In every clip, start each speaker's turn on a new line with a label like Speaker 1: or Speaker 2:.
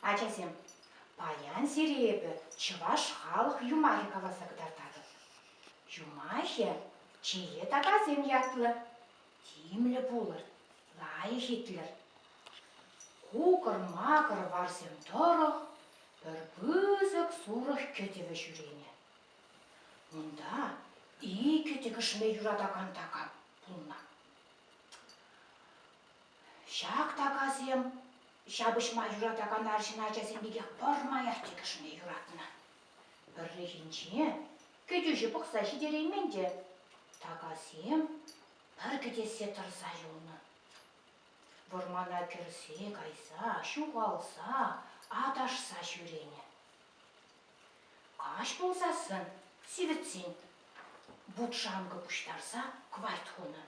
Speaker 1: Ачасем, паян сире эпӗ чӑваш халӑх юмахӗ каласа кӑтартатӑп. Юмахӗ чее такасем ятлӑ. Тимлӗ пулӑр, лайӑх итлӗр. Кукӑр-макӑр варсем тӑрӑх пӗр пысӑк сурӑх кӗтӗвӗ ҫӳренӗ. Унта икӗ тӗкӗшме юратакан такам пулнӑ. Ҫак такасем ҫапӑҫма юратакан арҫын ачасем пекех пӗрмаях тӗкӗшме юратнӑ. Пӗррехинче кӗтӳҫӗ пӑхса ҫитереймен те такасем пӗр кӗтессе тӑрса юлнӑ. Вӑрмана кӗрсе кайса, ҫухалса, аташса ҫӳренӗ. Каҫ пулсассӑн, сивӗтсен, вут-шанкӑ пуҫтарса кварт хунӑ.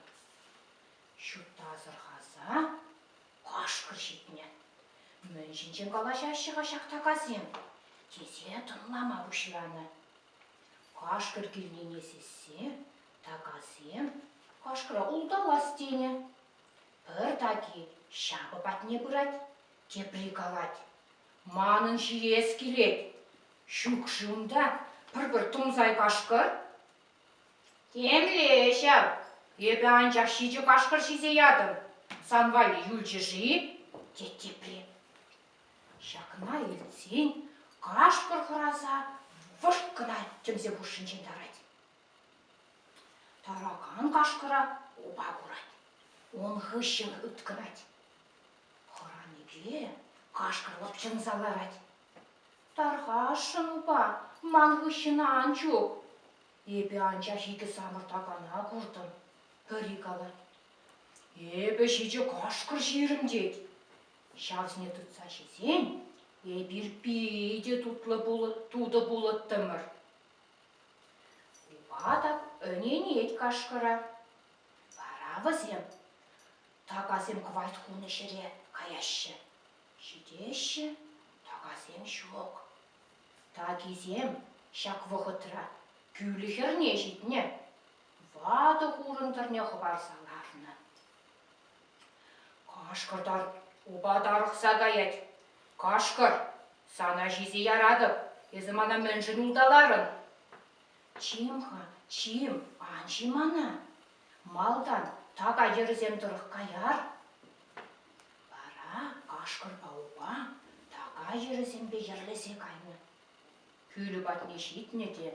Speaker 1: Ҫутта асӑрхаса кашкӑр ҫитнӗ. Мӗн ҫинчен калаҫаҫҫӗ-ха ҫак такасем? тесе тӑнлама пуҫланӑ. Кашкӑр килнине сиссе такасем кашкӑра улталас тенӗ. Пӗр таки ҫапӑ патне пырать, тепри калать, манӑн ҫиес килет, ҫук-ши унта пӗр-пӗр тумсай кашкӑр? Темле ҫав, эпӗ анчах ҫичӗ кашкӑр ҫисе ятӑм. Сан валли юлчӗ-ши? тет тепри. Ҫакна илтсен кашкӑр хӑраса вӑшт кӑна тӗмсе хушшинчен тарать. Таракан кашкӑра упа курать. Ун хыҫҫӑн ыткӑнать. Хӑраникӗ кашкӑрлӑх чӑмса ларать. Тархасшӑн упа, ман хыҫҫӑна ан чуп. Эпӗ анчах икӗ самӑртакана куртӑм. Пӗри калать, эпӗ ҫичӗ кашкӑр ҫирӗм тет. Ҫавсене тытса ҫисен эпир питӗ тутлӑ тутӑ пулӑттӑмӑр. Упа та ӗненет кашкӑра. Вара вӗсем Такасем кӑвайт хунӑ ҫӗре каяҫҫӗ. Ҫитеҫҫӗ, такасем ҫук. Такисем ҫак вӑхӑтра кӳлӗ хӗрне ҫитнӗ, ватӑ хурӑн тӑрне хӑпарса ларнӑ. Кашкӑртар упа тарӑхса каять. Кашкӑр, сана ҫисе яратӑп, эсӗ мана мӗншӗн улталарӑн? Чим-ха, чим, ан ҫи мана. Малтан така йӗрӗсем тӑрӑх каяр, вара кашкӑрпа упа така йӗрӗсемпе йӗрлесе кайнӑ. Кӳлӗ патне ҫитнӗ те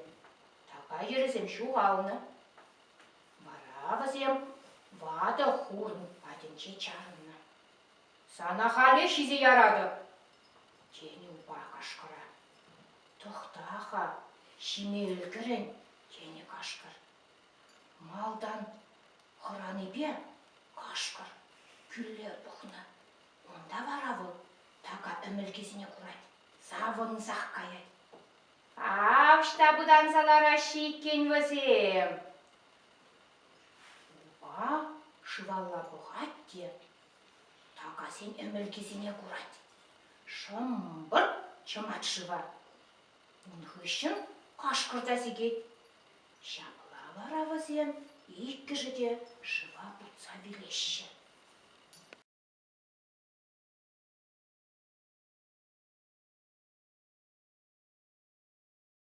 Speaker 1: така йӗрӗсем ҫухалнӑ. Вара вӗсем ватӑ хурӑн патӗнче чарӑннӑ. «Сана халех ҫисе яратӑп!» тенӗ упа кашкӑра. «Тӑхта-ха, ҫиме ӗлкӗрӗн!» тенӗ кашкӑр. Малтан хӑранипе хӑш-пӗр кӳлле пухнӑ. Унта вара вӑл така ӗмӗлкисене курать, савӑнсах каять. Ав ӑҫта пытанса лараҫҫӗ иккен вӗсем! Упа шывалла пӑхать те такасен ӗмӗлкисене курать. Шӑмпӑрт чӑмать шыва. Ун хыҫҫӑн кашкӑр та сикет. Ҫапла вара вӗсем иккӗшӗ те шыва путса вилеҫҫӗ.